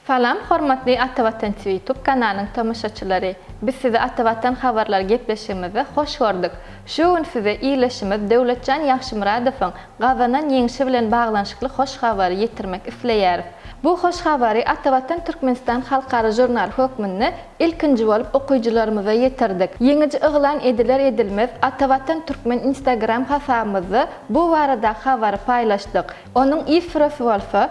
Salam hormatly Atavatan TV ýutub kanalynyň tomaşaçylary. Biz sizi Atavatan habarlary gepleşigimizde hoş gördük. Şu gün size ildeşimiz Döwletjan Ýagşymyradowyň gazanan ýeňşi bilen baglanyşykly hoş habary ýetirmek isleýäris. Bu hoş habary Atavatan Türkmenistan halkara žurnaly hökmünde Ilkinji bolup okyjylarymyza ýetirdik. Ýeňiji yglan ediler-edilmez Atavatan Türkmen Instagram hasabymyzda bu baradaky habary paýlaşdyk. Onuň ifrosy bolsa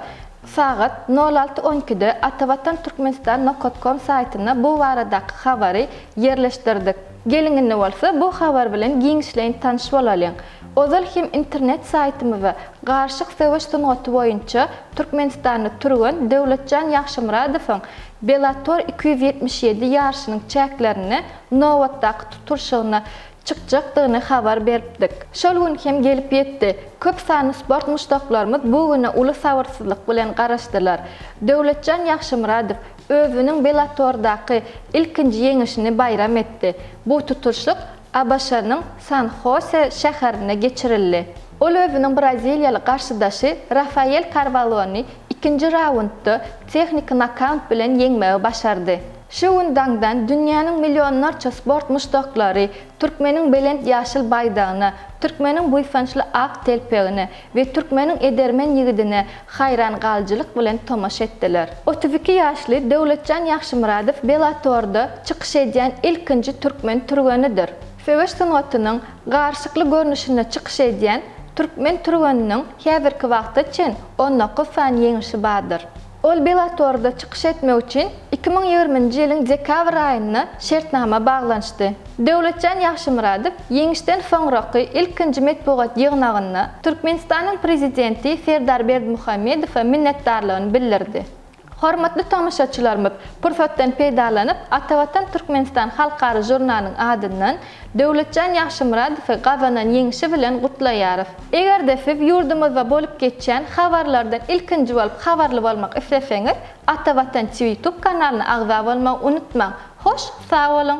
sagat nol alty on ikide Atavatan Türkmenistan nokat kom saýtyna bu baradaky habary ýerleşdirdik. Geliň indi bolsa bu habar bilen giňişleýin tanyş bolalyň. Ozal hem internet saýtymyza Garşyk söweş sungaty boýunça Türkmenistanly türgen Döwletjan Ýagşymyradowyň Bellator iki ýüz ýetmiş ýedi ýaryşynyň çäklerinde nobatdaky tutulşygyna çykjakdygyny habar beripdik. Şol gün hem gelip ýetdi. Köp sanly sport muşdaklarymyz bu güne uly sabyrsyzlyk bilen garaşdylar. Döwletjan Ýagşymyradow özüniň Bellatordaky ilkinji ýeňişini baýram etdi. Bu tutulşyk ABŞ-nyň San-Hose şäherinde geçirildi. Ol özüniň braziliýaly garşydaşy Rafael Karwalony ikinji raundda tehniki nokaunt bilen ýeňmegi başardy. Şu gün daňdan dünýäniň millionlarça sport muşdaklary türkmeniň belent ýaşyl baýdagyna, türkmeniň buýsançly ak telpegine, we türkmeniň edermen ýigidine haýran galyjylyk bilen tomaşa etdiler. Otuz iki ýaşly Döwletjan Ýagşymyradow Bellator-da çykyş edýän ilkinji türkmen türgenidir. Söweş sungatynyň garşykly görnüşinde çykyş edýän türkmen türgeniniň häzirki wagta çen on dokuz sany ýeňişi bardyr. Ol Bellator-da çykyş etmek üçin iki müň ýigriminji ýylyň dekabr aýynda şertnama baglanyşdy. Döwletjan Ýagşymyradow ýeňişden soňraky ilkinji metbugat ýygnagynda Türkmenistanyň Prezidenti Serdar Berdimuhamedowa minnetdarlygyny bildirdi. Hormatly tomaşaçylarymyz, pursatdan peýdalanyp, Atavatan Türkmenistan halkara žurnalynyň adyndan Döwletjan Ýagşymyradowy gazanan ýeňşi bilen gutlaýarys. Eger-de siz ýurdumyzda bolup geçýän habarlardan ilkinji bolup habarly bolmak isleseňiz, Ata Watan TV YouTube kanalyna agza bolmagy unutmaň. Hoş sag boluň!